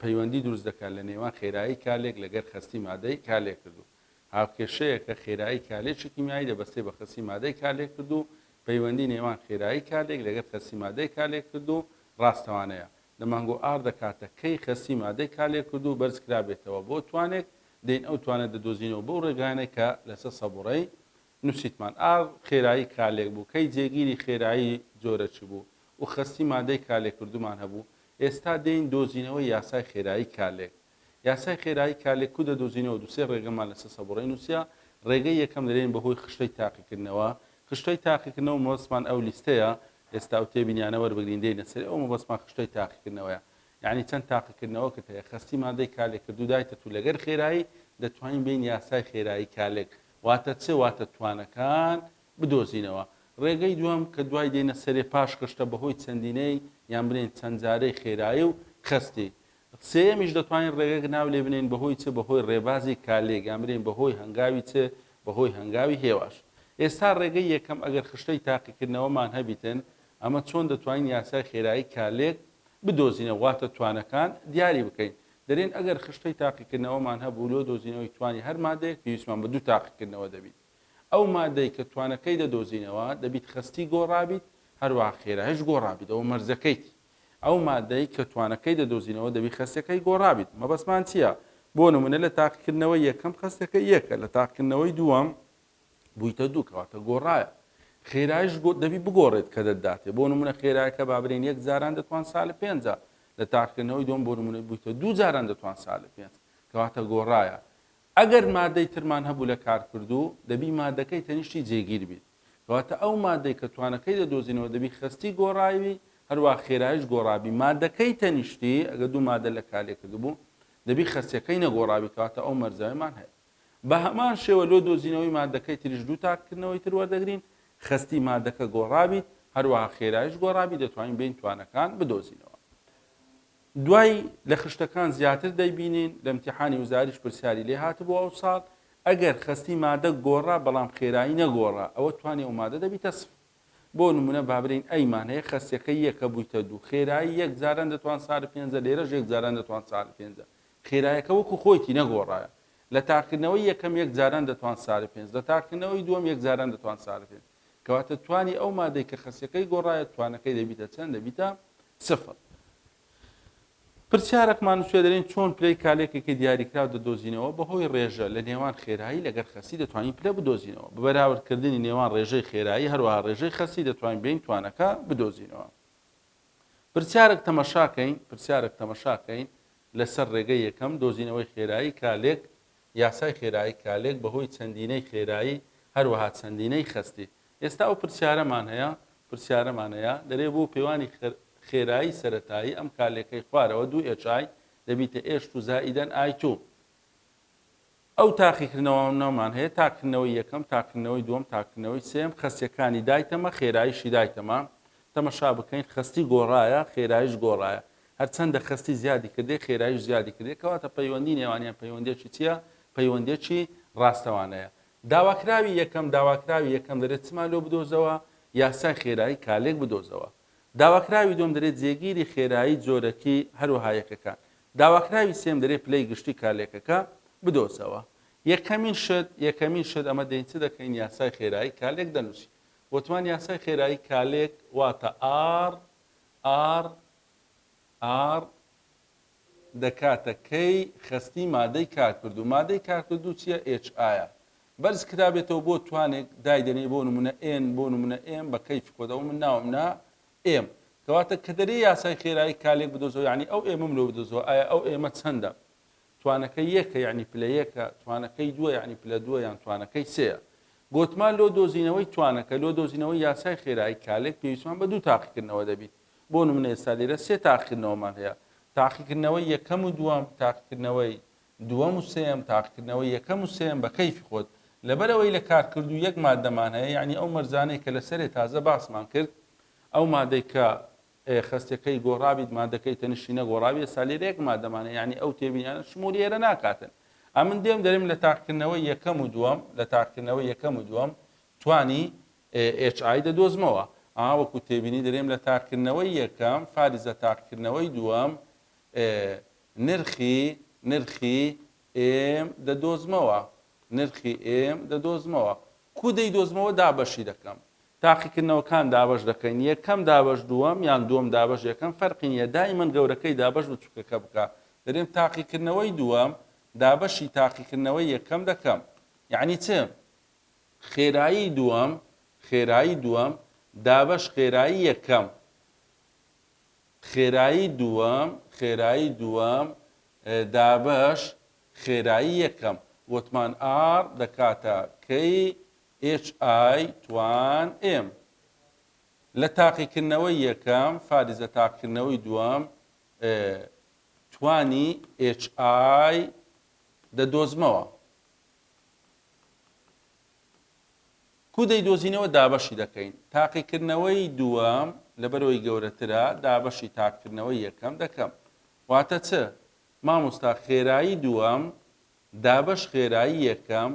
پەیوەندی دروست دەکات لە نێوان خێرایی کالێک لەگەر خەستی مادەی کالێکردوو. هاوکێشەیەکە خێرایی کالێکی کیمیایی دەبەستێ بە خەستی مادەی کالێکردوو، پەیوەندی نێوان خێرایی کالێک لەگەر خەستی مادەی کالێکردوو ڕاستەوانەیە. لە مانگۆ ئاڕ دەکاتە کەی خەستی مادەی کالێکردوو بەرز کرابێتەوە بۆ توانێک، دەین ئەو توانە دەدۆزینەوە بەو ڕێگایانەی کە لەسە سەبوڕەی نوسیتمان ئا خێرایی کالێک بوو کەی جێگیری خێرایی جۆرە چ بوو و خەستی مادەی کالێکردومان هەبوو ئێستا دێین دۆزینەوەی یاسای خێرایی کالێک یاسای خێرایی کالێک کو دەدۆزینەوە دوسێ رێگەمان لەسە سەبوڕەی نوسیە رێگەی یەکەم دەێین بەهۆی خشتەی تاقیکردنەوە خشتەی تاقیکردنەوە مەبەستمان ئەو لیستەیە ئێستا ئەو تێبینیانە وەربگرین دێینە سەری ئەو مەبەستمان خشتەی تاقیکردنەوەیە یعنی چەند تاقیکردنەوەکت هەیە خەستی مادەی کالێکردو دایتە تو لەگەر خێرایی دەتوانین بێین یاسای خێرایی کالێک واتە چ؟ واتە توانەکان بدۆزینەوە. ڕێگەی دووەم کە دوای دێنە سەرێ پاش خشتە بەهۆی چەندینەی یان بلێین چەند جارەی خێرایی و خەستی. سێیەمیش دەتوانین ڕێگەک ناو لێ بنێین بەهۆی چ؟ بەهۆی ڕێبازی کالێک یان بلێین بەهۆی هەنگاوی چ؟ بەهۆی هەنگاوی هێواش. ئێستا ڕێگەی یەکەم ئەگەر خشتەی تاقیکردنەوەمان هەبیتن ئەمە چۆن دەتوانین یاسای خێرایی کالێک بدۆزینەوە واتە توانەکان دیاری بکەین. دەلێن ئەگەر خشتەی تاقیکردنەوەمان هەبوو لۆ دۆزینەوەی توانی هەر مادەیەک پێویستمان بە دوو تاقیکردنەوە دەبیت ئەو مادەی کە توانەکەی دەدۆزینەوە دەبیت خەستی گۆڕابیت هەروەها خێرایش گۆڕابیت ئەوە مەرجەکەیتی ئەو مادەی کە توانەکەی دەدۆزینەوە دەبیت خەستەکەی گۆڕابیت مەبەستمان چیە بۆ نمونە لە تاقیکردنەوەی یەکەم خەستەکەی یەکە لە تاقیکردنەوەی دووەم بوویتە دوو کەواتە گۆڕایە. خێرایش گۆ دەبی بگۆڕێت کە دەتداتێ. بۆ نموونە خێرایەکە با برێن یەک جاران دەتوان سالب پێنجە لە تاقیکردنەوەی دووەم بۆ نموونە بوویتە دوو جاران دەتوان سالب پێنج کەواتە گۆڕایە. ئەگەر مادەی ترمان هەبوو لە کارکردوو دەبی مادەکەی تەنیشتی جێگیر بیت. کەواتە ئەو مادەی کە توانەکەی دەدۆزینەوە دەبی خەستی گۆڕایبی هەروەها خێرایش گۆڕابی مادەکەی تەنیشتی ئەگەر دوو مادە لە کارلێکردبوو دەبی خەستیەکەی نەگۆڕابی کەواتە ئەو مەرجەیەمان هەیە. بە هەمان شێوە لۆ دۆزینەوەی مادەکەی تریش دوو تاککردنەوەی تر وەردەگرین، خەستی مادەکە گۆڕابیت، هەروەها خێرایش گۆڕابیت دەتوانین بێین توانەکان بدۆزینەوە. دوای لە خشتەکان زیاتر دەیبینین، لە ئیمتیحانی وزاریش پرسیاری لێ هاتبوو ئەوساڵ، ئەگەر خەستی مادە گۆڕا بەڵام خێرایی نەگۆڕا ئەوە توانی ئەو مادە دەبیتە سفر. بۆ نموونە با برێین ئەی مان هەیە خەستیەکەی یەکە بوویتە دوو، خێرایی یەک جاران دەتوان سارد پێنجە لێرەش یەک جاران دەتوان سارد پێنجە خێرایەکە وەکو خۆیتی نەگۆڕایە لە تاقیکردنەوەی یەکەم یەک جاران دەتوان سارە پێنج لە تاقیکردنەوەی دووەم یەک جاران دەتوان سارە پێنج کەواتە توانی ئەو مادەی کە خەسیەکەی گۆڕایە توانەکەی دەبیتە چەند دەبیتە سفر. پرسیارەکمان نوسیوە دەلێن چۆن پلەی کالێکێکی دیاریکراو دەدۆزینەوە بەهۆی رێژە لە نێوان خێرایی لەگەر خەسی دەتوانین پلە بدۆزینەوە بەبەراورد کردنی نێوان رێژەی خێرایی هەروەها رێژەی خەسی دەتوانین بێین توانەکە بدۆزینەوە. پرسیارک تەمەشا کەین پرسیارک تەمەشا کەین لە سەر رێگەی یەکەم دۆزینەوەی خێرایی کالێک یاسای خێرایی کالێک بە هۆی چەندینەی خێرایی هەروەها چەندینەی خەستی ئێستا ئەو پرسیارەمان هەیە پرسیارەمان هەیە دەرێ بۆ پێوانی خێرایی سەرەتایی ئەم کالێکەی خوارەوە دوو ئێچای دەبیتە ئێشت و زائیدەن ئای توو ئەو تاقیکردنەوانەمان هەیە، تاقیکردنەوەی یەکەم، تاقیکردنەوەی دووەم، تاقیکردنەوەی سێیەم، خەستیەکانی دایتەمە، خێراییشی دایتەمە، تەمەشا بکەین خەستی گۆڕایە، خێراییش گۆڕایە، هەرچەندە خەستی زیادی کردێ، خێراییش زیادی کردێ، کەواتە پەیوەندی نێوانیان پەیوەندیەکی چیە؟ پەیوەندیەکی ڕاستەوانەیە. داواکراوی یەکەم، داواکراوی یەکەم دەرێت چمان لۆ بدۆزەوە، یاسای خێرایی کالێک بدۆزەوە. داواکراوی دووەم دەرێ جێگیری خێرایی جۆرەکی هەروەها یەکەکە. داواکراوی سێم دەرێ پلەی گشتی کارلێکەکە بدۆزەوە. یەکەمین شت یەکەمین شت ئەمە دەین چ دەکەین یاسای خێرایی کارلێک دەنووسین. وتمان یاسای خێرایی کارلێک واتە ئاڕ، ئاڕ، ئاڕ، دەکاتە کەی خەستی مادەی کارکردوو مادەی کارکردوو چیە ئێچ ئایە بەرز کرابێتەوە بۆ توانێک دایدەنێ بۆ نمونە ئێن بۆ نمونە ئێم بە کەیفی خۆت ئەوە من ناوم نا ئێم کەواتە کە دەرێ یاسای خێرایی کالێک بدۆزەوە یعنی ئەو ئێمەم لۆ بدۆزەوە ئایا ئەو ئێمە چەندە توانەکە یەکە یعنی پلە یەکە توانەکەی دووە یعنی پلە دووە یان توانەکەی سەیە گۆتمان لۆ دۆزینەوەی توانەکە لۆ دۆزینەوەی یاسای خێرایی کالێک پێویستمان بە دوو تاقیکردنەوە دەبیت بۆ نمونە ئێستا لێرە سێ تاقیکردنەوەمان هەیە، تاقیکردنەوەی یەکەم و دووەم، تاقیکردنەوەی دووەم و سێیەم، تاقیکردنەوەی یەکەم و سێیەم بە کەیفی خۆت، لەبەر ئەوەی لە کارکردوو یەک ماددەمان هەیە، یەعنی ئەو مەرجانەی کە لە سەرێ تازە باسمان کرد، ئەو مادەی کە خەستەکەی گۆڕابیت مادەکەی تەنیشتی نەگۆڕابی ئێستا لێرە یەک مادەمانە یعنی ئەو تێبینیانە شمولی ئێرە ناکاتن ئەمن دێم دەرم لە تاقکردنەوەی یەکەم و دووەم لە تاقکردنەوەی یەکەم و دووەم توانی ئێچ ئای دەدۆزمەوە. ئا وەکو تێبینی درێم لە تاقیکردنەوەی یەکەم فاریزە تاقیکردنەوەی دووەم ئێ نرخی نرخی ئێم دەدۆزمەوە نرخی ئێم دەدۆزمەوە کوو دەیدۆزمەوە دابەشی دەکەم تاقیکردنەوەکان دابەش دەکەین یەکەم دابەش دووەم یان دووەم دابەش یەکەم فەرقی نیە دایمەن گەورەکەی دابەش بچوکەکە بکە دەرێم تاقیکردنەوەی دووەم دابەشی تاقیکردنەوەی یەکەم دەکەم یعنی چ خێرایی دووەم خێرایی دووەم دابەش خێرایی یەکەم خێرایی دووەم خێرایی دووەم دابەش خێرایی یەکەم وتمان ئاڕ دەکاتە کەی HI توان M لە تاقیکردنەوەی یەکەم فاریزە تاقیکردنەوەی دووەم توانی HI دەدۆزمەوە کو دەیدۆزینەوە دابەشی دەکەین تاقیکردنەوەی دووەم لەبەرەوەی گەورەترە دابەشی تاقکردنەوەی یەکەم دەکەم واتە چ مامۆستا خێرایی دووەم دابەش خێرایی یەکەم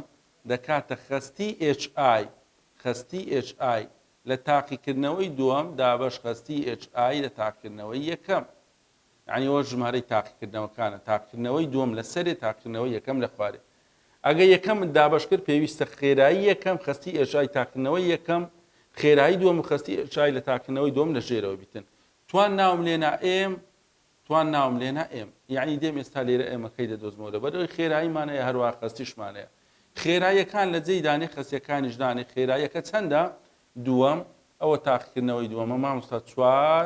دەکاتە خەستی HI خەستی HI لە تاقیکردنەوەی دووەم دابەش خەستی HI لە تاقکردنەوەی یەکەم یانی ئەوە ژمارەی تاقیکردنەوەکانە تاقیکردنەوەی دووەم لە سەرێ تاقیکردنەوەی یەکەم لە خوارێ ئەگە یەکەمت دابش کرد پێویستە خێرایی یەکەم خستی ئێشای تاقیکردنەوەی یەکەم خێرایی دووەم و خستی ئێشای لە تاقیکردنەوەی دووەم لە ژێرەوە بیتن توان ناوم لێنا ئێم توان ناوم لێنا ئێم یعنی دێم ئێستا لێرە ئێمەکەی دەدۆزمەوە لە بەرەوەی خێراییمانەیە هەروە خستیشمانەیە خێراییەکان لە جێی دانێ خەسیەکانیش دانێ خێراییەکە چەندە دووەم ئەوە تاقیکردنەوەی دووەمە مامۆستا چوار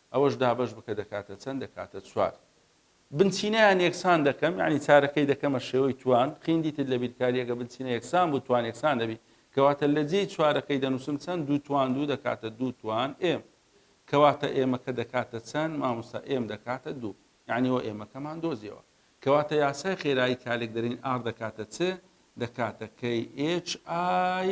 ئەوەش دابەش بکە دەکاتە چەند دەکاتە چوار. بنچینەیان یەکسان دەکەم یانی چارەکەی دەکەمە شێوەی توان، قیندیتت لە بیرکاری ئەگە بنچینە یەکسان بوو توان یەکسان دەبی کەواتە لە جێی چوارەکەی دەنووسم چەند دوو توان دوو دەکاتە دوو توان ئێم کەواتە ئێمەکە دەکاتە چەند ماموستا ئێم دەکاتە دوو یانی وە ئێمەکەمان دۆزیەوە کەواتە یاسای خێرایی کالێک دەرین ئاڕ دەکاتە چ دەکاتە کەی ئێچ ئای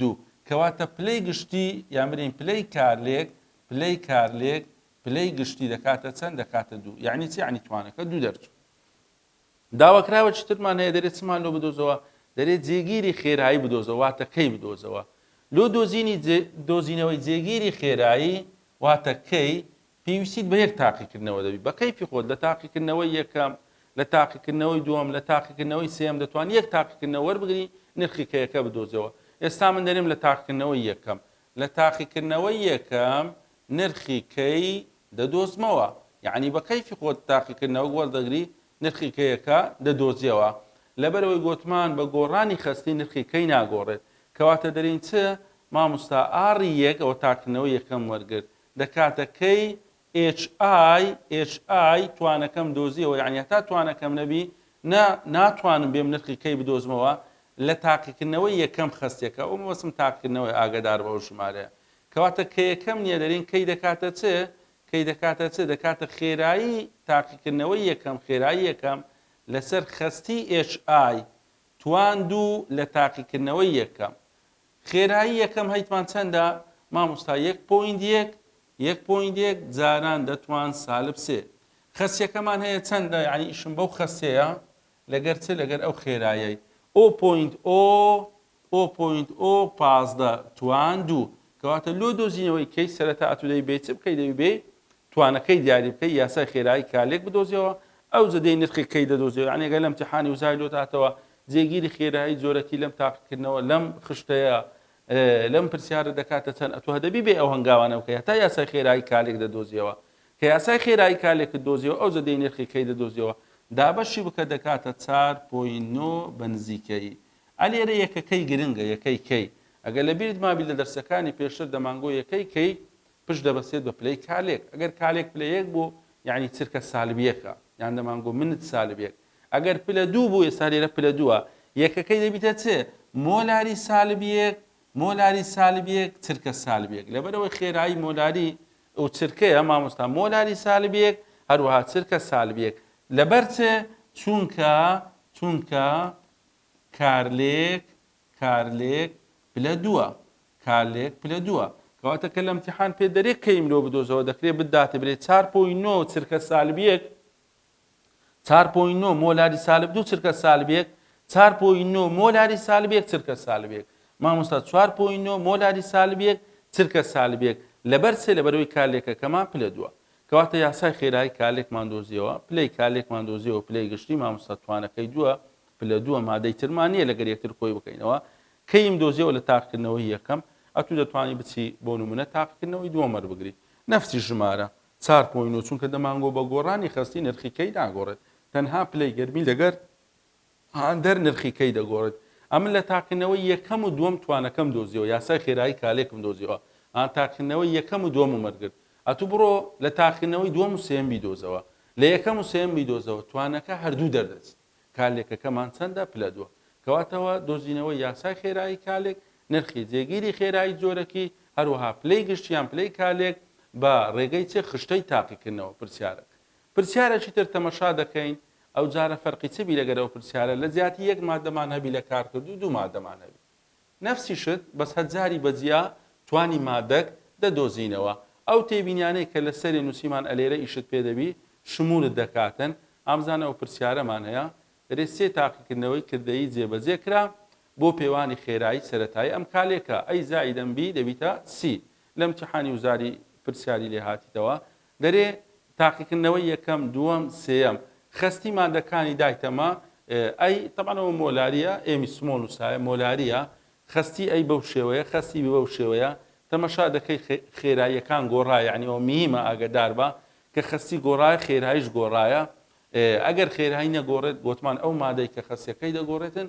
دوو. کەواتە پلەی گشتی، یان بلێین پلەی کارلێک، پلەی کارلێک پلەی گشتی دەکاتە چەند؟ دەکاتە دوو. یەعنی چ؟ یەعنی توانەکە دوو دەرچوو. داواکراوە چی ترمان هەیە؟ دەرێ چمان لۆ بدۆزەوە؟ دەرێ جێگیری خێرایی بدۆزەوە، واتە کەی بدۆزەوە. لۆ دۆزینی جێ، دۆزینەوەی جێگیری خێرایی، واتە کەی، پێویستیت بە یەک تاقیکردنەوە دەبی بە کەیفی خۆت لە تاقیکردنەوەی یەکەم لە تاقیکردنەوەی دووەم لە تاقیکردنەوەی سێیەم دەتوانی یەک تاقیکردنەوە وەربگری نرخی کەیەکە بدۆزەوە ئێستا من دەرێم لە تاقیکردنەوەی یەکەم لە تاقیکردنەوەی یەکەم نرخی کەی دەدۆزمەوە یعنی بە کەیفی خۆت تاقیکردنەوە وەردەگری نرخی کەیەکە دەدۆزیەوە لەبەرەوەی گۆتمان بە گۆڕانی خەستی نرخی کەی ناگۆڕێت کەواتە دەرین چ ماموستا ئاری یەک ئەوە تاقیکردنەوەی یەکەم وەرگرت لە کاتەکەی HIHI توانەکەم دۆزیەوە یانی هەتا توانەکەم نەبی نا ناتوانم بێم نرخی کەی بدۆزمەوە لە تاقیکردنەوەی یەکەم خەستەکە ئەو مەبەستم تاقیکردنەوەی ئاگەدار بە ئەو ژمارەیە کەواتە کەیەکەم نیە دەرین کەی دەکاتە چ کەی دەکاتە چ دەکاتە خێرایی تاقیکردنەوەی یەکەم خێرایی یەکەم لەسەر خەستی HI توان دوو لە تاقیکردنەوەی یەکەم خێرایی یەکەم هەیتمان چەندە ماموستا یەک پۆینت یەک یەک پۆینت یەک جاران دەتوان سالب سێ خەسیەکەمان هەیە چەندە یعنی ئیشم بەو خەسیەیە لەگەر چ لەگەر ئەو خێرایەی ئۆ پۆینت ئۆ ئۆ پۆینت ئۆ پازدە توان دوو کەواتە لۆ دۆزینەوەی کەی سەرەتا ئەتودەی بێ چ بکەی دەبی بێ توانەکەی دیاری بکەی یاسای خێرایی کالێک بدۆزیەوە ئەو زەدەی نرخی کەی دەدۆزیەوە یعنی گەلم تحانی وزای لۆ داتەوە جێگیری خێرایی جۆرەکی لەم تاقیکردنەوە لەم خشتەیە لەم پرسیارە دەکاتە چەند ئەتوه دەبی بێ ئەو هەنگاوانە بکە هەتا یاسای خێرایی کالێک دەدۆزیەوە کە یاسای خێرایی کالێکت دۆزیەوە ئەو زەدەی نرخی کەی دەدۆزیەوە دابەشی بکە دەکاتە چار پۆی نۆ بەنزیکەی ئەلێرە یەکەکەی گرنگە یەکەی کەی ئەگەر لە بیرت مابی لە دەرسەکانی پێشتر دەمانگۆ یەکەی کەی پشت دەبەستێت بە پلەی کالێک ئەگەر کالێک پلە یەک بوو یانی چرکە سالب یەکە یان دەمانگۆ منت سالب یەک ئەگەر پلە دوو بوو ئێستا لێرە پلە دووە یەکەکەی دەبیتە چێ مۆلاری سالب یەک مۆلاری سالب یەک چرکە سالب یەک لەبەرەوەی خێرایی مۆلاری ئەو چرکەیە مامۆستا مۆلاری سالب یەک هەروەها چرکە سالب یەک لەبەر چێ چونکە چونکە کارلێک کارلێک پلە دووە کارلێک پلە دووە کەواتە کە لە امتحان پێ دەرێ کەیم لۆ بدۆزەوە دەکرێ بداتێ برێ چار پۆی نۆ چرکە سالب یەک چار پۆی نۆ مۆلاری سالب دوو چرکە سالب یەک چار پۆی نۆ مۆلاری سالب یەک چرکە سالب یەک مامۆستا چوار پۆی نۆ مۆلاری سالب یەک چرکە سالب یەک لەبەر سێ لەبەرەوەی کارلێکەکەمان پلە دووە کەواتە یاسای خێرایی کارلێکمان دۆزیەوە پلەی کارلێکمان دۆزیەوە پلەی گشتی مامۆستا توانەکەی دووە پلە دووە مادەی ترمان نیە لەگەر یەکتر کۆی بکەینەوە کەیم دۆزیەوە لە تاقکردنەوەی یەکەم ئەتوو دەتوانی بچی بۆ نمونە تاقکردنەوەی دووەم وەربگری نەفسی ژمارە چار پۆی نۆ چونکە دەمانگۆ بە گۆڕانی خەستی نرخی کەی ناگۆڕێت تەنها پلەی گەرمی لەگەر هاندەر نرخی کەی دەگۆڕێت ئەمن لە تاقکردنەوەی یەکەم و دووەم توانەکەم دۆزیەوە یاسای خێرایی کالێکم دۆزیەوە ئان تاقکردنەوەی یەکەم و دووەم و مەرگرت ئەتوو بڕۆ لە تاقکردنەوەی دووەم و سێم بیدۆزەوە لە یەکەم و سێم بیدۆزەوە توانەکە هەردوو دەردەچێت کالێکەکەمان چەندە؟ پلە دوو. کەواتەوە دۆزینەوەی یاسای خێرایی کالێک، نرخی جێگیری خێرایی جۆرەکی، هەروەها پلەی گشت یان پلەی کالێک بە ڕێگەی چ خشتەی تاقیکردنەوە؟ پرسیارەک. پرسیارێکی تر تەمەشا دەکەین، ئەوجارە فەرقی چ بی لەگەر ئەو پرسیارە، لە جیاتی یەک ماددەمان هەبی لە کارکردوو دوو ماددەمان هەبی. نەفسی شت بەس هەجاری بە جیا توانی مادەک دە دۆزینەوە ئەو تێبینیانەی کە لە سەرێ نوسیمان ئەلێرە ئیشت پێ دەبی شمولت دەکاتن ئامزان ئەو پرسیارەمان هەیە رێ سێ تاقیکردنەوەی کردەیی جێ بە جێ کرا بۆ پێوانی خێرایی سەرەتایی ئەم کالێکە ئەی زائیدەن بی دەبیتە سی لە امتیحانی وزاری پرسیاری لێ هاتیتەوە دەرێ تاقیکردنەوەی یەکەم دووەم سێیەم خەستی مادەکانی دایتەمە ئەی تەبعەن ئەوە مۆلاریە ئێمی سمۆڵ نوسایە مۆلاریە خەستی ئەی بەو شێوەیە خەستی بی بەو شێوەیە تەمەشا دەکەی خێراییەکان گۆڕا یعنی ئەوە میهمە ئاگەداربە کە خەستی گۆڕایە خێرایش گۆڕایە ئەگەر خێرایی نەگۆڕێت گۆتمان ئەو مادەی کە خەسیەکەی دەگۆڕێتن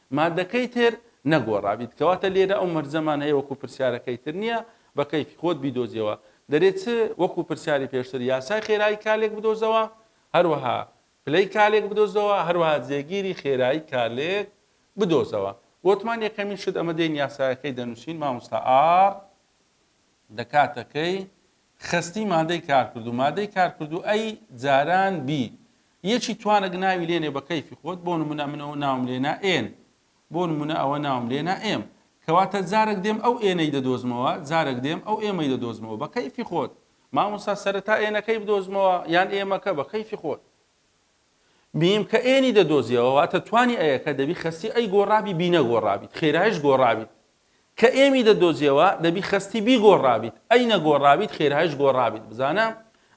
مادەکەی تر نەگۆڕابیت کەواتە لێرە ئەو مەرجەمان هەیە وەکو پرسیارەکەی تر نیە بە کەیفی خۆت بیدۆزیەوە دەرێ چ وەکو پرسیاری پێشتر یاسای خێرایی کالێک بدۆزەوە هەروەها پلەی کالێک بدۆزەوە هەروەها جێگیری خێرایی کالێک بدۆزەوە وتمان یەکەمین شت ئەمە دێین یاسایەکەی دەنووسین مامۆستا ئاڕ دەکاتە کەی خەستی مادەی کارکردوو مادەی کارکردوو ئەی جاران بی یەکی توانەک ناوی لێنێ بە کەیفی خۆت بۆ نمونە من ئەوە ناوم لێنا ئێن بۆ نمونە ئەوە ناوم لێنا ئێم کەواتە جارەک دێم ئەو ئێنەی دەدۆزمەوە جارەک دێم ئەو ئێمەی دەدۆزمەوە بە کەیفی خۆت مامۆستا سەرەتا ئێنەکەی بدۆزمەوە یان ئێمەکە بە کەیفی خۆت بیم کە ئێنی دەدۆزیەوە واتە توانی ئەیەکە دەبی خەستی ئەی گۆڕابی بی نەگۆڕابیت خێرایش گۆڕابیت کە ئێمی دەدۆزیەوە دەبی خەستی بیگۆڕابیت ئەی نەگۆڕابیت خێرایش گۆڕابیت بزانە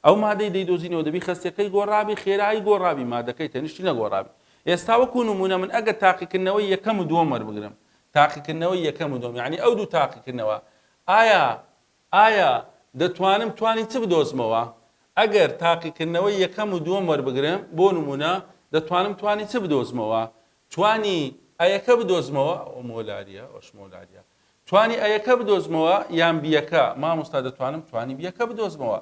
ئەو مادەی دەیدۆزینەوە دەبی خەستەکەی گۆڕابی خێرایی گۆڕابی مادەکەی تەنیشتی نەگۆڕابی ئێستا وەکو نمونە من ئەگەر تاقیکردنەوەی یەکەم و دووەم وەربگرم تاقیکردنەوەی یەکەم و دووەم یعنی ئەو دوو تاقیکردنەوە ئایا ئایا دەتوانم توانی چ بدۆزمەوە ئەگەر تاقیکردنەوەی یەکەم و دووەم وەربگرم بۆ نمونە دەتوانم توانی چ بدۆزمەوە توانی ئەیەکە بدۆزمەوە؟ ئەوە مۆلاریە ئەوەش مۆلاریە. توانی ئەیەکە بدۆزمەوە یان بیەکە؟ مامۆستا دەتوانم توانی بیەکە بدۆزمەوە.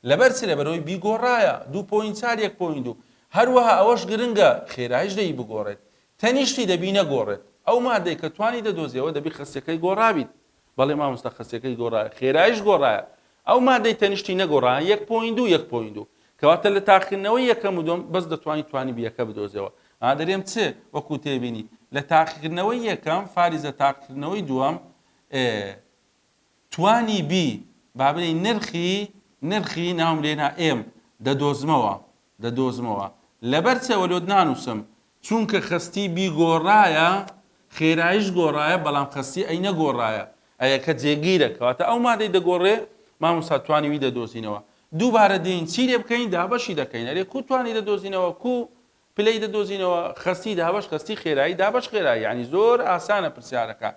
لەبەر چ؟ لەبەرئەوەی بی گۆڕایە. دوو پۆینت چار یەک پۆینت دوو. هەروەها ئەوەش گرنگە خێرایش دەی بگۆڕێت. تەنیشتی دەبی نەگۆڕێت. ئەو مادەی کە توانی دەدۆزیەوە دەبی خەستیەکەی گۆڕابیت. بەڵێ مامۆستا خەسیەکەی گۆڕایە خێرایش گۆڕایە ئەو مادەی تەنیشتی نەگۆڕایە یەک پۆین دوو یەک پۆین دوو کەواتە لە تاقیکردنەوەی یەکەم و دوم بەس دەتوانین توانی بیەکە بدۆزەوە ئادەرێم چ وەکو تێبینی لە تاقیکردنەوەی یەکەم فاریزە تاقیکردنەوەی دووەم توانی بی بابلی نرخی نرخی ناوم لێنا ئێم دەدۆزمەوە دەدۆزمەوە لەبەر چەوە لۆت نانووسم چونکە خەستی بیگۆڕایە خێرایش گۆڕایە بەڵام خەستی ئەی نەگۆڕایە ئەیەکە جێگیرە کەواتە ئەو مادەی دەگۆڕێ مامۆستا توانی وی دەدۆزینەوە دووبارە دێین چی لێ بکەین دابەشی دەکەین ئەرێ کو توانی دەدۆزینەوە کو پلەی دەدۆزینەوە خەستی دابەش خەستی خێرایی دابەش خێرایی ینی زۆر ئاسانە پرسیارەکە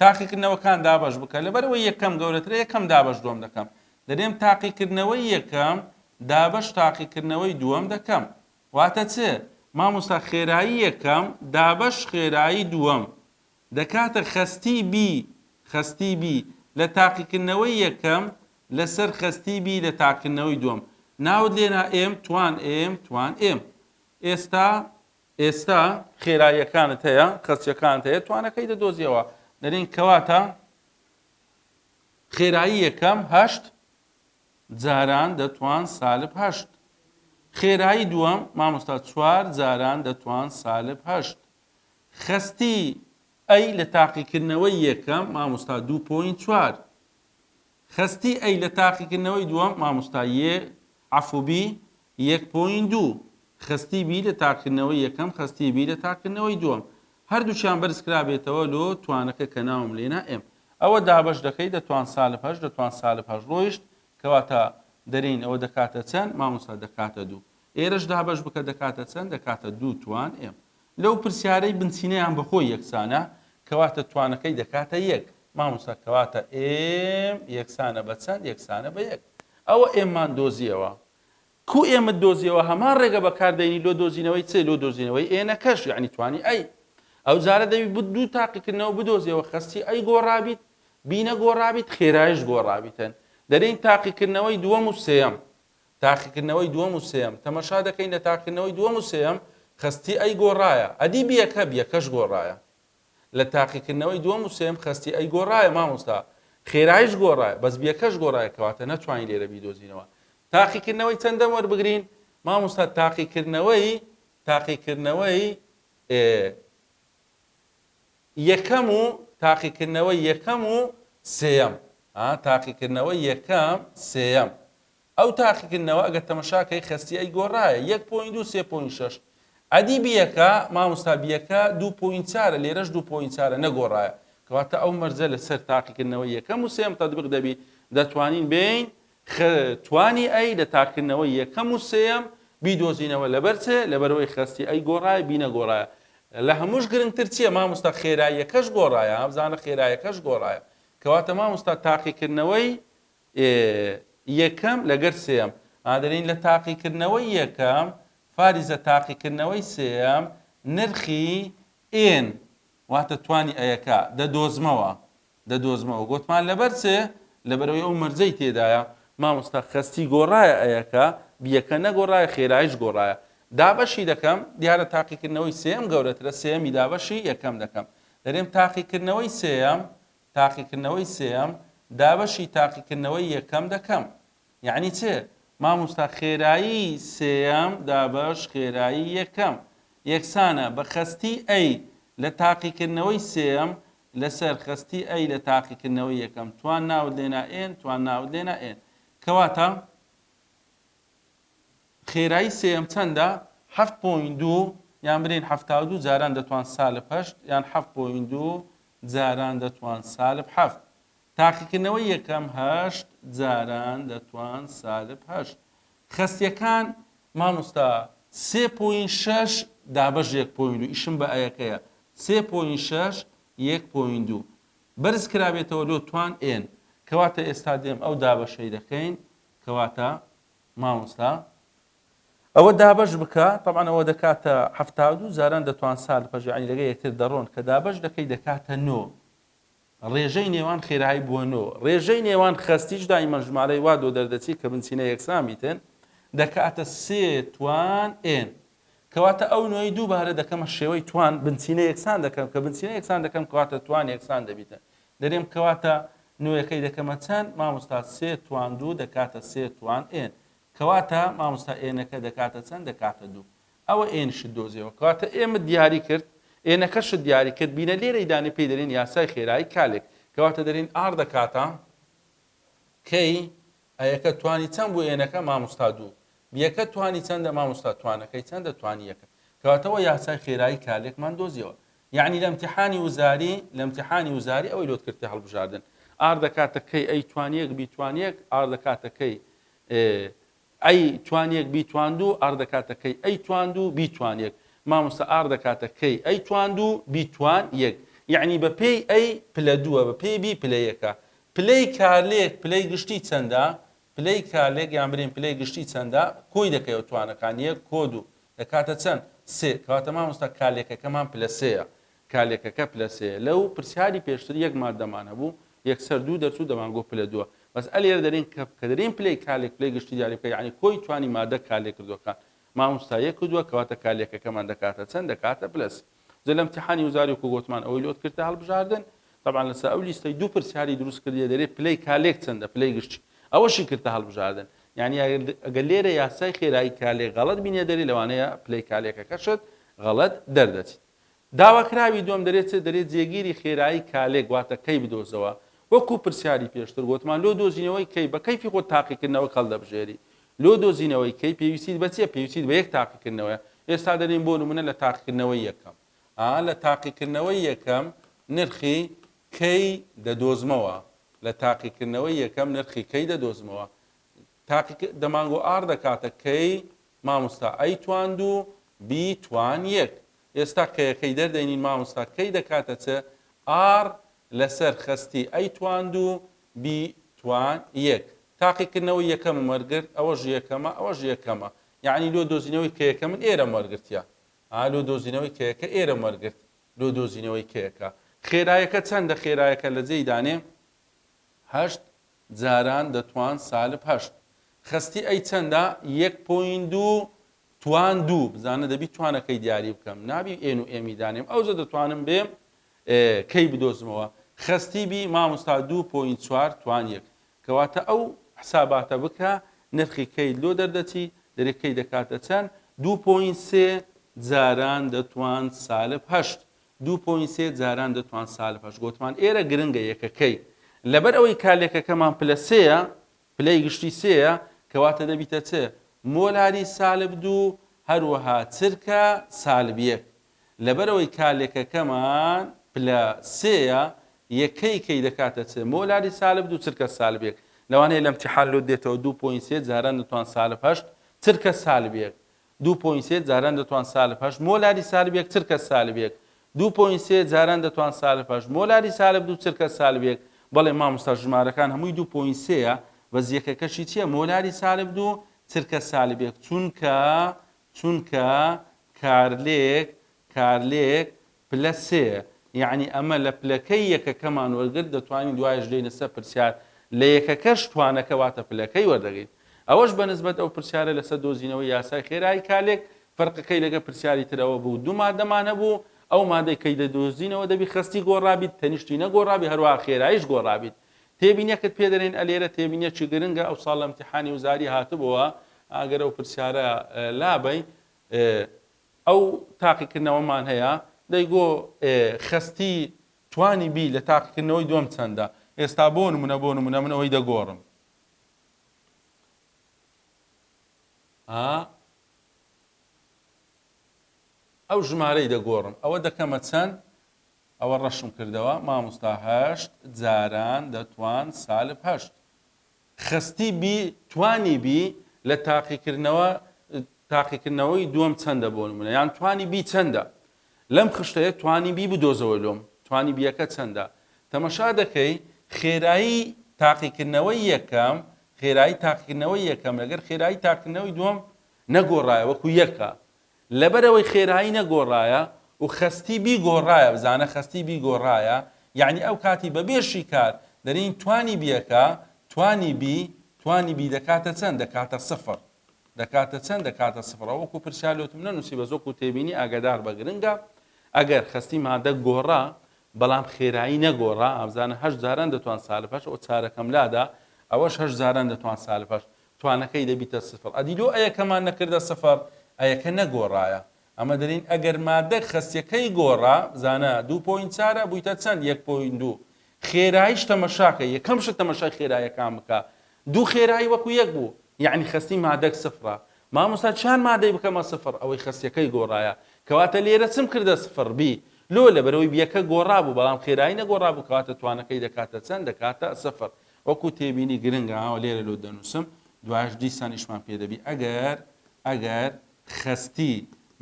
تاقیکردنەوەکان دابەش بکە لەبەرەوەی یەکەم گەورەترە یەکەم دابەش دوم دەکەم دەێم تاقیکردنەوەی یەکەم دابەش تاقیکردنەوەی دووەم دەکەم واتە چ ماموستا خێرایی یەکەم دابەش خێرایی دووەم دەکاتە خەستی بی خەستی بی لە تاقیکردنەوەی یەکەم لەسەر خەستی بی لە تاقیکردنەوەی دووەم ناوت لێنا م توان م توان م ئێستا ئێستا خێراییەکانت هەیە خەستیەکانت هەیە توانەکەی دەدۆزیەوە دەرێن کەواتە خێرایی یەکەم هەشت جاران دەتوان سالب هەشت. خێرایی دووەم مامۆستا چوار جاران دەتوان سالب هەشت. خەستی ئەی لە تاقیکردنەوەی یەکەم مامۆستا دوو پۆینت چوار. خەستی ئەی لە تاقیکردنەوەی دووەم مامۆستا یێ عەفو بی یەک پۆینت دوو، خستی بی لە تاقیکردنەوەی یەکەم خستی بی لە تاقیکردنەوەی دووەم هەردووکیان بەرز کرابێتەوە لۆ توانەکە کە ناوم لێنا M ئەوە دابەش دەکەی دە توان سالب هەشت دە توان سالب هەشت ڕۆیشت کەواتە دەرێین ئەوە دەکاتە چەند مامۆستا دەکاتە دوو ئێرەش دابەش بکە دەکاتە چەند دەکاتە دوو توان M لەو پرسیارەی بنچینەیان بەخۆی یەکسانە کەواتە توانەکەی دەکاتە یەک مامۆستا کەواتە M یەکسانە بە چەند یەکسانە بە یەک ئەوە M مان دۆزیەوە کو ئێمەت دۆزیەوە هەمان ڕێگە بەکار دەینی لۆ دۆزینەوەی چ لۆ دۆزینەوەی ئێنەکەش یەعنی توانی ئەی ئەو جارە دەبی بت دوو تاقیکردنەوە بدۆزیەوە خەستی ئەی گۆڕابیت بینە گۆڕابیت خێرایش گۆڕابیتن دەرین تاقیکردنەوەی دووەم و سێەم تاقیکردنەوەی دووەم و سێەم تەمەشا دەکەین لە تاقیکردنەوەی دووەم و سێەم خەستی ئەی گۆڕایە ئەدی بیەکە بیەکەش گۆڕایە لە تاقیکردنەوەی دووەم و سێیەم خەستی ئەی گۆڕایە مامۆستا خێرایش گۆڕایە بەس بیەکەش گۆڕایە کەواتە نەتوانی لێرە بیدۆزینەوە تاقیکردنەوەی چەندەم وەربگرین مامۆستا تاقیکردنەوەی تاقیکردنەوەی یەکەم و تاقیکردنەوەی یەکەم و سێیەم تاقیکردنەوەی یەکەم سێیەم ئەو تاقیکردنەوە ئەگەر تەمەشا کەی خەستی ئەی گۆرایە یەک پۆینت دوو سێ پۆینت شەش ئەدی بیەکە مامۆستا بیەکە دوو پۆینت چارە لێرەش دوو پۆینت چارە نەگۆرایە کەواتە ئەو مەرجە لە سەر تاقیکردنەوەی یەکەم و سێم تەدبق دەبی دەتوانین بێین خ توانی ئەی لە تاقیکردنەوەی یەکەم و سێم بیدۆزینەوە لەبەر چێ لەبەرەوەی خەستی ئەی گۆرایە بی نەگۆرایە لە هەمووش گرنگتر چیە مامۆستا خێراییەکەش گۆرایە هەبزانە خێرایەکەش گۆرایە کەواتە مامۆستا تاقیکردنەوەی ئێ یەکەم لەگەر سێیەم ئادەرێین لە تاقیکردنەوەی یەکەم فاریزە تاقیکردنەوەی سێیەم نرخی ئێن واتە توانی ئەیەکە دەدۆزمەوە دەدۆزمەوە گۆتمان لەبەر چ لەبەرەوەی ئەو مەرجەی تێدایە مامۆستا خەستی گۆڕایە ئەیەکە بیەکە نەگۆڕایە خێرایش گۆڕایە دابەشی دەکەم دیارە تاقیکردنەوەی سێم گەورەترە سێمی دابەشی یەکەم دەکەم دەرێم تاقیکردنەوەی سێم تاقیکردنەوەی سێیەم دابەشی تاقیکردنەوەی یەکەم دەکەم یەعنی چ؟ ماموستا خێرایی سێیەم دابەش خێرایی یەکەم یەکسانە بە خەستی ئەی لە تاقیکردنەوەی سێیەم لەسەر خەستی ئەی لە تاقیکردنەوەی یەکەم توان ناوت لێنا ئێن توان ناوت لێنا ئێن کەواتە خێرایی سێیەم چەندە؟ حەفت پۆینت دوو، یان برێین حەفتا و دوو جاران دەتوان سالب هەشت، یان حەفت پۆینت دوو جاران دەتوان سالب حەفت. تاقیکردنەوەی یەکەم، هەشت جاران دەتوان سالب هەشت. خەستیەکان، مامۆستا سێ پۆینت شەش دابەش یەک پۆینت دوو، ئیشم بە ئەیەکەیە، سێ پۆینت شەش یەک پۆینت دوو بەرز کرابێتەوە لۆ توان ئێن، کەواتە ئێستا دێم ئەو دابەشەی دەکەین، کەواتە مامۆستا ئەوە دابەش بکە تەبعەن ئەوە دەکاتە حەفتا و دوو جاران دەتوان سارد پەژەعی لەگە یەکتر دەڕۆن کە دابەش دەکەی دەکاتە نۆ ڕێژەی نێوان خێرایی بووە نۆ ڕێژەی نێوان خەستیش دایمە ژمارەی وا دۆ دەردەچی کە بنچینە یەکسان بیتن دەکاتە سێ توان ئێن کەواتە ئەو نوێی دووبارە دەکەمە شێوەی توان بنچینە یەکسان دەکەم کە بنچینە یەکسان دەکەم کەواتە توان یەکسان دەبیتە دەرێم کەواتە نوێکەی دەکەمە چەند مامۆستا سێ توان دوو دەکاتە سێ توان ئێن کەواتە مامۆستا ئێنەکە دەکاتە چەند دەکاتە دوو ئەوە ئێنشت دۆزیەوە کەواتە ئێمت دیاری کرد ئێنەکەشت دیاری کرد بینە لێرەی دانی پێی دەرێن یاسای خێرایی کالێک کەواتە دەرێن ئار دەکاتە کەی ئەیەکە توانی چەند بوو ئێنەکە مامۆستا دوو بیەکە توانی چەندە مامۆستا توانەکەی چەندە توانی یەکە کەواتەوە یاسای خێرایی کالێکمان دۆزیەوە یەعنی لە امتحانی وزاری لە امتحانی وزاری ئەوەی لۆت کرد کە هەڵبژاردن ئار دەکاتە کەی ئەی توانیەک بیتوانیەک ئار دەکاتە کەی ئەی توانیەک بیتواندو ئار دەکاتە کەی ئەی تواندو بیتوانیەک مامۆستا ئار دەکاتە کەی ئەی تواندو بیتوان یەک یەعنی بە پێی ئەی پلە دووە بە پێی بی پلە یەکە پلەی کارلێک پلەی گشتی چەندە پلەی کارلێک یان برین پلەی گشتی چەندە؟ کۆی دەکەیەوە توانەکان، یەک کۆ دوو. دەکاتە چەند؟ سێ. کەواتە مامۆستا کارلێکەکەمان پلە سێیە. کارلێکەکە پلە سێیە. لەو پرسیاری پێشتر یەک ماددەمان هەبوو، یەکسەر دوو دەرچوو دەمانگۆت پلە دووە. بەس ئەلێرە دەلێین کە کە دەلێین پلەی کارلێک پلەی گشتی دیاری بکە یانی کۆی توانی ماددە کارلێکردوەکان. ماموستا یەک و دووە کەواتە کارلێکەکەمان دەکاتە چەند؟ دەکاتە پلە سێ. جا لە امتحانی وزاری وکو گۆتمان ئەوەی لۆت کردتە هەڵبژاردن تەبعا لەسە ئەو لیستەی دوو پرسیاری دروست کردیە دەرێ پلەی کالێک چەندە پلەی گشتی ئەوەشی کردتە هەڵبژاردن یعنی ئەگەر لێرە یاسای خێرایی کالێک غەڵەت بینێ دەرێ لەوانەیە پلەی کالێکەکەشت غەڵەت دەردەچیت داواکراوی دوم دەرێت چێ دەرێت جێگیری خێرایی کالێک واتە کەی بدۆزەوە وەکو پرسیاری پێشتر گوتمان لۆ دۆزینەوەی کەی بە کەیفی خۆ تاقیکردنەوە کەڵ دەبژێری لۆ دۆزینەوەی کەی پێویستیت بە چیە پێویستیت بە یەک تاقیکردنەوەیە ئێستا دەرێن بۆ نمونە لە تاقیکردنەوەی یەکەم ئا لە تاقیکردنەوەی یەکەم نرخی کەی دەدۆزمەوە لە تاقیکردنەوەی یەکەم نرخی کەی دەدۆزمەوە تاقی دەمانگۆ ئار دەکاتە کەی مامۆستا ئەی تواند و بی توان یەک ئێستا کەیەکەی دەردەینین مامۆستا کەی دەکاتە چ ئار لەسەر خستی ئەی تواند و بی توان یەک تاقیکردنەوەی یەکەمم وەرگرت ئەوەش یەکەمە ئەوەش یەکەمە یەعنی لۆ دۆزینەوەی کەیەکە من ئێرەم وەرگرتیە ها لۆ دۆزینەوەی کەیەکە ئێرەم وەرگرت لۆ دۆزینەوەی کەیەکە خێرایەکە چەندە خێرایەکە لە جێی دانێ هەشت جاران دەتوان سالب هەشت خەستی ئەی چەندە یەک پۆین دوو توان دوو بزانە دەبی توانەکەی دیاری بکەم نابی ئێن و ئێمی دانێم ئەوجە دەتوانم بێم کەی بدۆزمەوە خەستی بی ماموستا دوو پۆینت چوار توان یەک کەواتە ئەو حساباتە بکە نرخی کەی لۆ دەردەچی دەرێ کەی دەکاتە چەن دوو پۆینت سێ جاران دەتوان سالب هەشت دوو پۆینت سێ جاران دەتوان سالب هەشت گۆتمان ئێرە گرنگە یەکەکەی لەبەر ئەوەی کالێکەکەمان پلە سێە پلەی گشتی سێە کەواتە دەبیتە چ مۆلاری سالب دوو هەروەها چرکە سالب یەک لەبەرئەوەی کالێکەکەمان پلە سێیە یەکەی کەی دەکاتە چ مۆلاری سالب دوو چرکە سالب یەک لەوانەیە لە امتحان لۆت دێتەوە دوو پۆینت سێ جاران دەتوان سالب هەشت چرکە سالب یەک دوو پۆینت سێ جاران دەتوان سالب هەشت مۆلاری سالب یەک چرکە سالب یەک دوو پۆینت سێ جاران دەتوان سالب هەشت مۆلاری سالب دوو چرکە سالب یەک بەڵێ مامۆستا ژمارەکان هەمووی دوو پۆینت سێیە بەس یەکەکەشی چییە مۆلاری سالب دوو چرکە سالب یەک چونکە چونکە کارلێک کارلێک پلە سێیە یەعنی ئەمە لە پلەکەی یەکەکەمان وەرگرت دەتوانین دوایش بێینە سەر پرسیار لە یەکەکەش توانەکە واتە پلەکەی وەردەگرین ئەوەش بە نسبەت ئەو پرسیارە لەسەر دۆزینەوەی یاسای خێرایی کالێک فەرقەکەی لەگە پرسیاری ترەوە بوو دوو مادەمان هەبوو ئەو مادەی کەی دەدۆزینەوە دەبی خستی گۆڕابیت تەنیشتی نەگۆڕابی هەروە خێرایش گۆڕابیت تێبینیەکت پێ دەرێن ئە لێرە تێبینیەکی گرنگە ئەو ساڵ لە امتحانی وزاری هاتبووە ئاگەر ئەو پرسیارە لابەی ئەو تاقیکردنەوەمان هەیە دەی گۆ خستی توانی بی لە تاقیکردنەوەی دوم چەندە ئێستا بۆ نمونە بۆ نمونە من ئەوەی دەگۆڕم ئەو ژمارەی دەگۆڕم ئەوە دەکەمە چەند ئەوە ڕەشم کردەوە ماموستا هەشت جاران دەتوان سالب هەشت. خەستی بی توانی بی لە تاقیکردنەوە تاقیکردنەوەی دووەم چەندە بۆ نمونە یان توانی بی چەندە لەم خشتەیە توانی بی بدۆزەوە لۆم توانی بیەکە چەندە تەمەشا دەکەی خێرایی تاقیکردنەوەی یەکەم خێرایی تاقیکردنەوەی یەکەم لەگەر خێرایی تاقیکردنەوەی دووەم نەگۆڕایە وەکو یەکە لەبەرئەوەی خێرایی نەگۆڕایە و خەستی بیگۆڕایە، بزانە خەستی بیگۆڕایە یەعنی ئەو کاتی بەبێ شیکار دەرین توانی بیەکە، توانی بی، توانی بی دەکاتە چەند؟ دەکاتە سفر. دەکاتە چەند؟ دەکاتە سفر. ئەوە وەکو پرسیار لۆتم نەنوسی بەس وەکو تێبینی ئاگاداربە گرنگە. ئەگەر خەستی مادە گۆڕا بەڵام خێرایی نەگۆڕا، ئەبزانە هەشت جاران دەتوان سالب هەشت ئەوە چارەکەم لادا ئەوەش هەشت جاران دەتوان سالب هەشت توانەکەی دەبیتە سفر ئەدی لۆ ئەیەکەمان نەکردە سفر ئەیەکە نەگۆرایە ئەمە دەلین ئەگەر مادەک خەسیەکەی گۆرا بزانە دوو پۆینت چارە بویتە چەند یەک پۆینت دوو خێرایش تەمەشاکە یەکەم شت تەمەشای خێرایەکان بکە دوو خێرایی وەکو یەک بوو یعنی خەستی مادەک سفرە مامۆستا چیان مادەی بکەمە سفر ئەوەی خەسیەکەی گۆرایە کەواتە لێرە چم کردە سفر بی لۆ لەبەرەوەی بیەکە گۆڕابوو بەڵام خێرایی نەگۆڕابوو کەواتە توانەکەی دەکاتە چەند دەکاتە سفر وەکو تێبینی گرنگە ئەوە لێرە لۆ دەنووسم، دوایش دیسان ئیشمان پێ دەبی، ئەگەر ئەگەر خەستی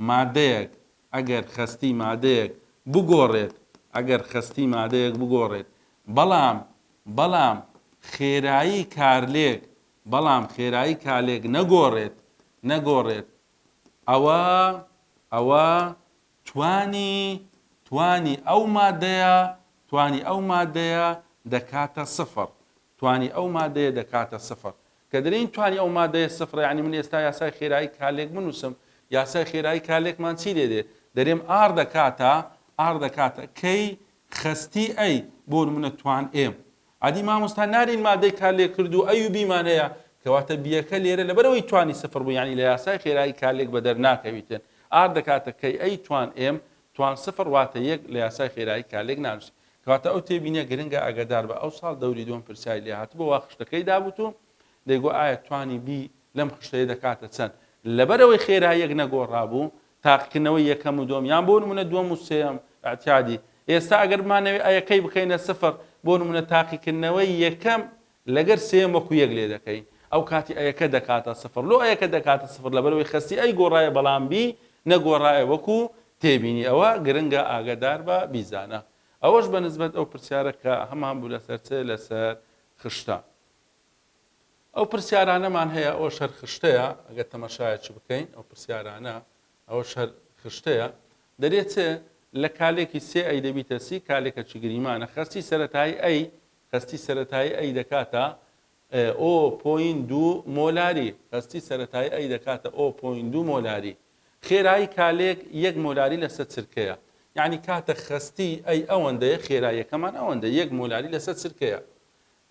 مادەیەک ئەگەر خەستی مادەیەک بگۆڕێت ئەگەر خەستی مادەیەک بگۆڕێت بەڵام بەڵام خێرایی کارلێک بەڵام خێرایی کالێک نەگۆڕێت نەگۆڕێت ئەوە ئەوە توانی، توانی ئەو مادەیە، توانی ئەو مادەیە دەکاتە سفر، توانی ئەو مادەیە دەکاتە سفر. کە دەلێین توانی ئەو مادەیە سفرە یانی من ئێستا یاسای خێرایی کالێک بنووسم، یاسای خێرایی کالێکمان چی لێ دێ؟ دەلێم ئاڕ دەکاتە، ئاڕ دەکاتە کەی خەستی ئەی، بۆ نموونە توان ئێم. عادی ماموستا نارین مادەی کار لێ کردوو ئە یو بی مان هەیە کەواتە بیەکە لێرە لەبەرەوەی توانی سفر بوو یانی لە یاسای خێرایی کار لێک بەدەر ناکەویتن ئار دەکاتە کەی ئەی توان ئێم توان سفر واتە یەک لە یاسای خێرایی کار لێک نانوسی کەواتە ئەو تێبینیە گرنگە ئاگەدار بە ئەو ساڵ دەوری دووەم پرسیاری لێ هاتبوو وا خشتەکەی دابووت و دەیگو ئایا توانی بی لەم خشتەیە دەکاتە چەند لەبەرەوەی خێراییەک نەگۆڕابوو تاقیکردنەوەی یەکەم و دووەم یان بۆ نموونە دووەم و سێیەم ئیعتیادی ئێستا ئەگەر بمانەوێت ئەیە کەی بکەینە سفر بۆ نموونە تاقیکردنەوەی یەکەم لەگەر سێیەم وەکو یەک لێ دەکەین ئەو کاتی ئەیەکە دەکاتە سفر لۆ ئەیەکە دەکاتە سفر لەبەرەوەی خەستی ئەی گۆڕایە بەڵام بی نەگۆڕایە وەکو تێبینی ئەوە گرنگە ئاگادار بە بیزانە ئەوەش بە نسبەت ئەو پرسیارە کە هەمان بوو لەسەر چ لەسەر خشتە. ئەو پرسیارانەمان هەیە، ئەوەش هەر خشتەیە، ئەگەر تەمەشایەکی بکەین، ئەو پرسیارانە، ئەوەش هەر خشتەیە، دەرێچێ لە کالێکی سێ ئەی دەبیتە سی، کالێکەکی گریمانە، خەستی سەرەتایی ئەی، خەستی سەرەتایی ئەی دەکاتە، ئۆ پۆین دوو مۆلاری، خەستی سەرەتایی ئەی دەکاتە، ئۆ پۆین دوو مۆلاری. خێرایی کالێک یەک مۆلاری لەسە چرکەیە. یانی کاتە خەستی ئەی ئەوەندەیە، خێراییەکەمان ئەوەندە، یەک مۆلاری لەسە چرکەیە.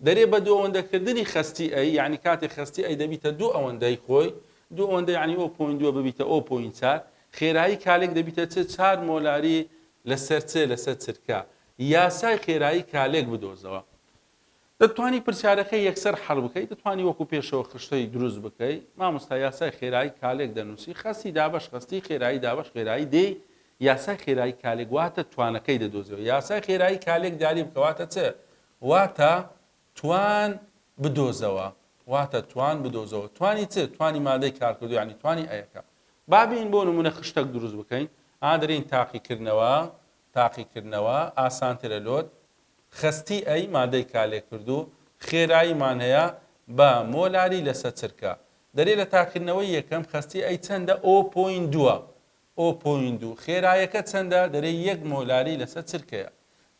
دەرێ بە دووئەوەندەکردنی خەستی ئەی، یەعنی کاتێ خەستی ئەی دەبیتە دوو ئەوەندەی خۆی، دوو ئەوەندە یەعنی ئۆ پۆین دووە ببیتە ئۆ پۆین چار، خێرایی کالێک دەبیتە چ چار مۆلاری لەسەر چ لەسەر چرکە. یاسای خێرایی کالێک بدۆزەوە. دەتتوانی پرسیارەکە یەکسەر حەل بکەی، دەتتوانی وەکو پێشەوە خشتەی دروست بکەی، مامۆستا یاسای خێرایی کالێک دەنووسی، خەستی دابەش خەستی، خێرایی دابەش خێرایی دێی، یاسای خێرایی کالێک واتە توانەکەی دەدۆزیەوە، یاسای خێرایی کالێک دیاری بکە واتە چ؟ واتە توان بدۆزەوە واتە توان بدۆزەوە توانی چ توانی مادەی کارکردوو یانی توانی ئەیەکە با بین بۆ نمونە خشتەک دروست بکەین ئا دەرین تاقیکردنەوە تاقیکردنەوە ئاسانترە لۆت خەستی ئەی مادەی کالێکردوو خێراییمان هەیە بە مۆلاری لەسە چرکە دەرێ لە تاقیکردنەوەی یەکەم خەستی ئەی چەندە ئۆ پۆین دووە ئۆ پۆینت دوو، خێرایەکە چەندە؟ دەرێ یەک مۆلاری لەسەر چرکەیە.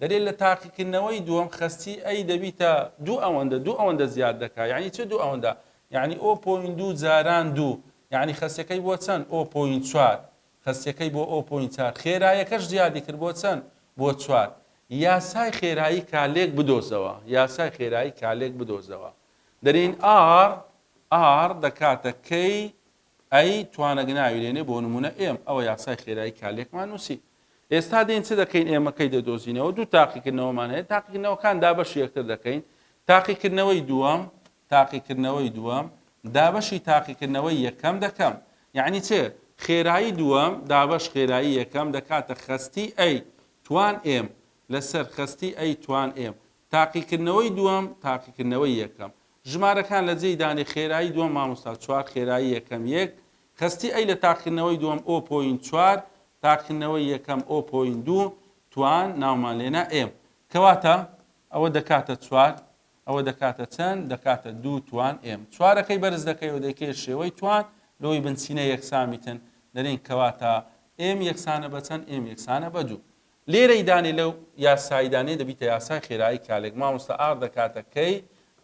دەرێ لە تاقیکردنەوەی دووەم خەستی ئەی دەبیتە دوو ئەوەندە، دوو ئەوەندە زیاد دەکا، یانی چ دوو ئەوەندە؟ یانی ئۆ پۆینت دوو جاران دوو، یانی خەستەکەی بۆ چەند؟ ئۆ پۆینت چوار، خەستەکەی بۆ ئۆ پۆینت چار، خێرایەکەش زیادی کرد بۆ چەند؟ بۆ چوار. یاسای خێرایی کالێک بدۆزەوە، یاسای خێرایی کالێک بدۆزەوە. دەرێین ئاڕ، R، دەکاتە کەی ئەی توانەک ناوی لێنێ بۆ نمونە ئێم ئەوە یاسای خێرایی کالێکمان نوسی ئێستا دێین چ دەکەین ئێمە کەی دەدۆزینەوە دوو تاقیکردنەوەمان هەیە تاقیکردنەوەکان دابەشی یەکتر دەکەین تاقیکردنەوەی دووەم تاقیکردنەوەی دووەم دابەشی تاقیکردنەوەی یەکەم دەکەم یعنی چێ خێرایی دووەم دابەش خێرایی یەکەم دەکاتە خەستی ئەی توان ئێم لەسەر خەستی ئەی توان ئێم تاقیکردنەوەی دووەم تاقیکردنەوەی یەکەم ژمارەکان لە جێی دانی خێرایی دووەم مامۆستا چوار خێرایی یەکەم یەک خەستی ئەی لە تاقیرنەوەی دووەم ئۆ پۆینت چوار تاقیرنەوەی یەکەم ئۆ پۆینت دوو توان ناومان لێنا ئێم کەواتە ئەوە دەکاتە چوار ئەوە دەکاتە چەند دەکاتە دوو توان ئێم چوارەکەی بەرز دەکەیەوە دەیکەیە شێوەی توان لەوەی بنچینە یەکسامیتن دەرین کەواتە ئێم یەکسانە بە چەند ئێم یەکسانە بە دوو لێرەی دانێ لەو یاسایی دانێ دەبیتە یاسای خێرایی کالێک مامۆستا ئاخ دەکاتە کەی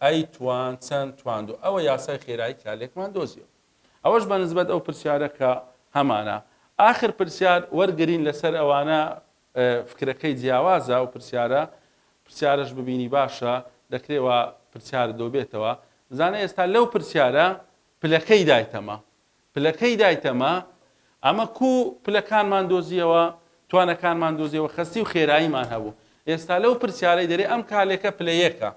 ئەی توان چەند تواندو ئەوە یاسای خێرایی کالێکمان دۆزیەوە ئەوەش بە نسبەت ئەو پرسیارە کە هەمانە ئاخر پرسیار وەرگرین لەسەر ئەوانە فکرەکەی جیاوازە و پرسیارە پرسیارش ببینی باشە دەکرێوا پرسیار دۆبێتەوە بزانە ئێستا لەو پرسیارە پلەکەی دایتەمە پلەکەی دایتەمە، ئەمە کوو پلەکانمان دۆزییەوە، توانەکانمان دۆزییەوە، خەستی و خێراییمان هەبوو. ئێستا لەو پرسیارەی دەرێ ئەم کالێکە پلە یەکە،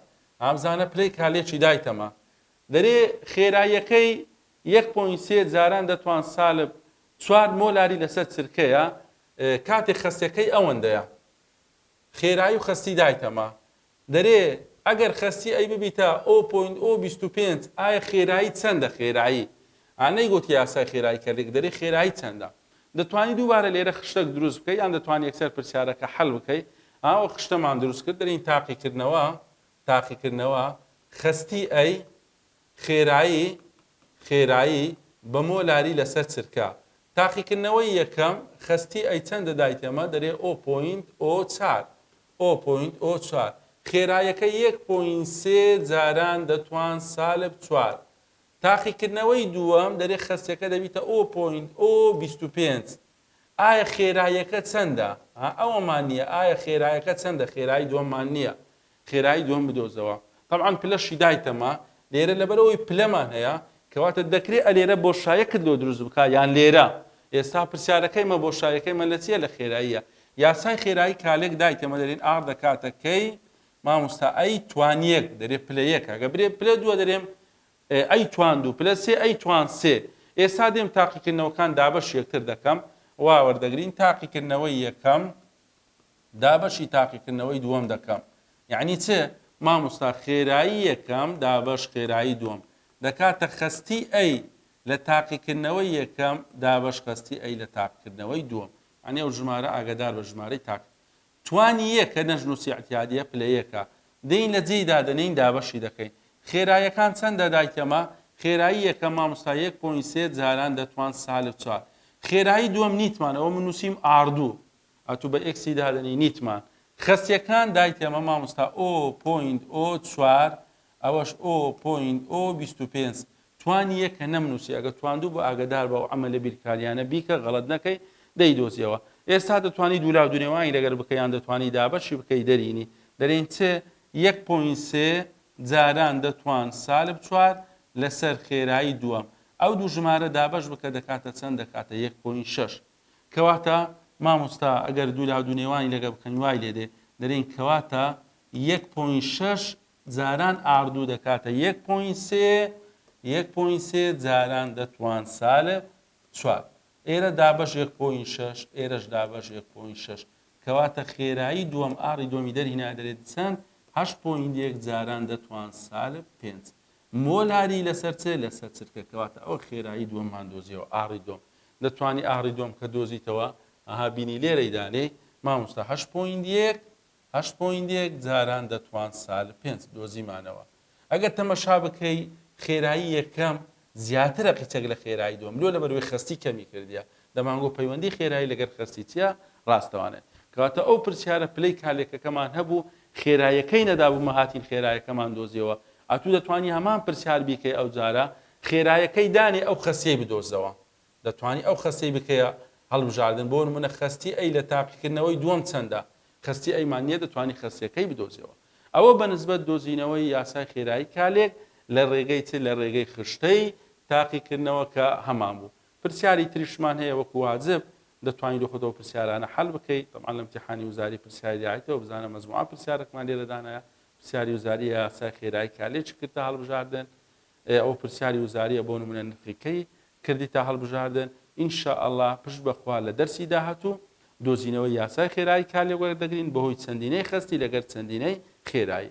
ئا بزانە پلەی کالێکی دایتەمە. دەرێ خێراییەکەی یەک پۆینت سێ جاران دەتوان سالب چوار مۆلاری لەسەر چرکەیە، کاتێ خەستەکەی ئەوەندەیە. خێرایی و خەستی دایتەمە. دەرێ ئەگەر خەستی ئەی ببیتە ئۆ پۆینت ئۆ بیست و پێنج ئایا خێرایی چەندە خێرایی ئا نەیگۆت یاسای خێرایی کە لێک دەرێ خێرایی چەندە دەتوانی دووبارە لێرە خشتەک دروست بکەی یان دەتوانی یەکسەر پرسیارەکە حەل بکەی ئا وە خشتەمان دروست کرد دەرین تاقی کردنەوە تاقی کردنەوە خەستی ئەی خێرایی خێرایی بە مۆ لاری لە سەر چرکە تاقی کردنەوەی یەکەم خەستی ئەی چەندە دایتەمە دەرێ ئۆ پۆینت ئۆ چار ئۆ پۆینت ئۆ چوار خێرایەکە یەک پۆینت سێ جاران دەتوان سالب چوار تاقیکردنەوەی دووەم دەرێ خەسیەکە دەبیتە ئۆ پۆینت ئۆ بیست و پێنج ئایا خێرایەکە چەندە ها ئەوەمان نییە ئایا خێرایەکە چەندە خێرایی دووەممان نییە خێرایی دووەم بدۆزەوە تەبعەن پلەشی دایتەمە لێرە لەبەرئەوەی پلەمان هەیە کەواتە دەکرێ ئەلێرە بۆشایەکت لۆ دروست بکا یان لێرە ئێستا پرسیارەکەی مە بۆشایەکەی مە لە چیە لە خێراییە یاسای خێرایی کالێک دایتەمە دەرێن ئاڕ دەکاتە کەی ماموستا ئەی توانیەک دەرێ پلەیەکە گە برێ پلە دووە دەرێم ئەی توان دوو پلە سێ ئەی توان سێ ئێستا دێم تاقیکردنەوەکان دابەش یەکتر دەکەم واوەردەگرین تاقیکردنەوەی یەکەم دابەشی تاقیکردنەوەی دووەم دەکەم یعنی چ مامۆستا خێرایی یەکەم دابەش خێرایی دووەم دەکاتە خەستی ئەی لە تاقیکردنەوەی یەکەم دابەش خەستی ئەی لە تاقکردنەوەی دووەم ئەنێ و ژمارە ئاگدار بە ژمارەی تاک توانی یەکە نەژنووسی ئەتیادیە پلە یەکە دەین لە جێی دادەنین دابەشی دەکەین خێرایەکان چەندە دایکەمە خێرایی یەکە مامۆستا یەک پۆین سێ جاران دەتوان سالب چوار خێرایی دووەم نیتمانەوە من نووسیم ئاردوو ئەتو بە ئێکسی دادەنێی نیتمان خەسیەکان دایتێمە ماموستا ئۆ پۆینت ئۆ چوار ئەوەش ئۆ پۆینت ئۆ بیست و پێنج توانی یەکە نەمنووسی ئەگە تواندوو بۆ ئاگدار بە و ئەمە لە بیرکاریانە بیکە غەڵت نەکەی دەیدۆزیەوە ئێستا دەتوانی دوولا دونێوانی لەگەر بکەیان دەتوانی دابەشی بکەی دەرینی دەرین چ یەک پۆین سێ جاران دەتوان سالب چوار لەسەر خێرایی دووەم ئەو دوو ژمارە دابەش بکە دەکاتە چەند دەکاتە یەک پۆین شەش کەواتە مامۆستا ئەگەر دوو لا دوو نێوانی لەگەڵ بکەین وای لێ دێ دەرێین کەواتە یەک پۆین شەش جاران ئاردوو دەکاتە یەک پۆین سێ یەک پۆین سێ جاران دەتوان سالە چوار ئێرە دابش یەک پۆین شەش ئێرەش دابش یەک پۆین شەش کەواتە خێرایی دووەم ئاری دووەمی دەرهینا دەرێت چەند هەش پۆین یەک جاران دەتوان سالە پێنج مۆلاری لەسەر چ؟ لەسەر چرکە، کەواتە ئەوە خێرایی دووەممان دۆزیەوە، ئاڕی دووەم. دەتوانی ئاڕی دووەم کە دۆزیتەوە، ئەها بینی لێرەی دانێ، مامۆستا هەشت پۆینت یەک، هەشت پۆینت یەک جاران دەتوان سالب پێنج، دۆزیمانەوە. ئەگەر تەمەشا بکەی خێرایی یەکەم زیاترە قیچەک لە خێرایی دووەم، لۆ لەبەروەی خەستی کەمی کردیە، دەمانگۆ پەیوەندی خێرایی لەگەر خەستی چیە ڕاستەوانێ؟ کەواتە ئەو پرسیارە پلەی کالێکەکەمان هەبوو خێرایەکەی نەدابوو مەهاتین خێرایەکەمان دۆزیەوە ئەتوو دەتوانی هەمان پرسیار بیکەی ئەوجارە خێرایەکەی دانێ ئەو خەستیەی بدۆزەوە دەتوانی ئەو خەستەی بکەیە هەڵبژاردن بۆ نمونە خەستی ئەی لە تاقیکردنەوەی دووەم چەندە خەستی ئەیمان نیە دەتوانی خەستیەکەی بدۆزیەوە ئەوە بە نسبەت دۆزینەوەی یاسای خێرایی کالێک لە ڕێگەی چ لە ڕێگەی خشتەی تاقیکردنەوە کە هەمان بوو پرسیاری تریشمان هەیە وەکو واجب دەتوانی لۆ خۆتەوە پرسیارانە حەل بکەی تەبعا لە امتحانی وزاری پرسیاری داعیتەوە بزانە مەزموعە پرسیارەکمان لێرە دانایە پرسیاری وزاری یاسای خێرایی کا لێ چ کرد تا هەڵبژاردن ئەو پرسیاری وزاریە بۆ نمونە نرخەکەی کردی تا هەڵبژاردن ئینشاءله پشت بەخوا لە دەرسی داهاتوو دۆزینەوە یاسای خێرایی کالێوەر دەگرین بەهۆی چەندینەی خستی لەگەر چەندینەی خێرایی